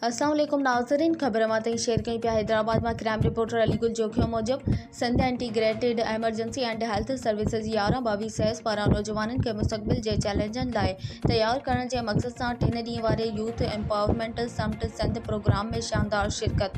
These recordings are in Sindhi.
اسلام عليڪم ناظرين خبر اوهان تائين شيئر ڪيون پيا حيدرآباد مان ڪرائم رپورٽر علي گل جوکيو موجب Sindh integrated emergency and health services يارهن ٻاويهه سيز پاران نوجوانن کي مستقبل جي چئلينجن لاء تيار ڪرڻ جي مقصد سان ٽن ڏينهن واري youth empowerment summit Sindh programme ۾ شاندار شرڪت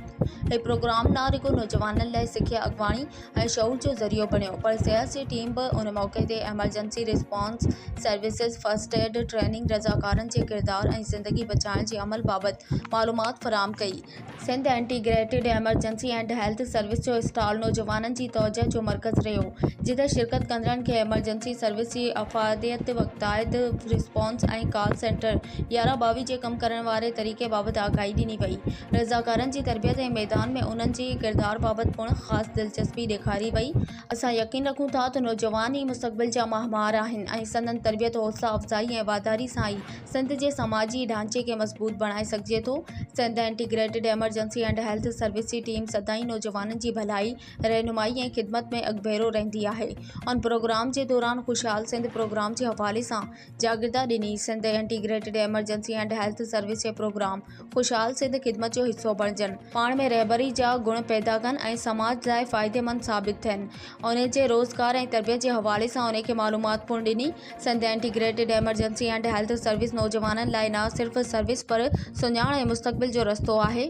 هي پروگرام نه رڳو نوجوانن لاء سکيا اڳواڻي ۽ شعور جو ذريعو بڻيو پر صحت جي ٽيم به ان موقعي تي emergency response services, first aid training, رضاڪارن جي ڪردار ۽ زندگي بچائڻ جي عمل بابت معلومات فراهم ڪئي. Sindh integrated emergency and health service جو اسٽال نوجوانن جي توجهه جو مرڪز رهيو، جتي شرڪت ڪندڙن کي ايمرجنسي سروس جي افاديت، وقتائت ريسپانس ۽ ڪال سينٽر يارهن ٻاويهه جي ڪم ڪرڻ واري طريقي بابت آگاهي ڏني وئي. رضاڪارن جي تربيت ۽ ميدان ۾ انهن جي ڪردار بابت پڻ خاص دلچسپي ڏيکاري وئي. اسان يقين رکون ٿا ته نوجوان ئي مستقبل جا ماهوار آهن ۽ سندن تربيت، حوصلا افزائي ۽ واڌاري سان ئي سنڌ جي سماجي ڍانچي کي مضبوط بڻائي سگهجي ٿو. Sindh integrated emergency and health service جي ٽيم سدائين نوجوانن جي ڀلائي، رهنمائي ۽ خدمت ۾ اڳڀيرو رهندي آهي. ان پروگرام جي دوران خوشحال سنڌ پروگرام جي حوالي سان جاگردا ڏني. Sindh integrated emergency and health service جي پروگرام خوشحال سنڌ خدمت جو حصو بڻجن، پاڻ ۾ رهبري جا گڻ پيدا ڪن ۽ سماج لاء فائديمند ثابت ٿين. انهن جي روزگار ۽ تربيت جي حوالي سان انهن کي معلومات پڻ ڏني. Sindh integrated emergency and health service نوجوانن لاء نه صرف سروس پر سڃاڻ ۽ مستقبل جو رستو آهي.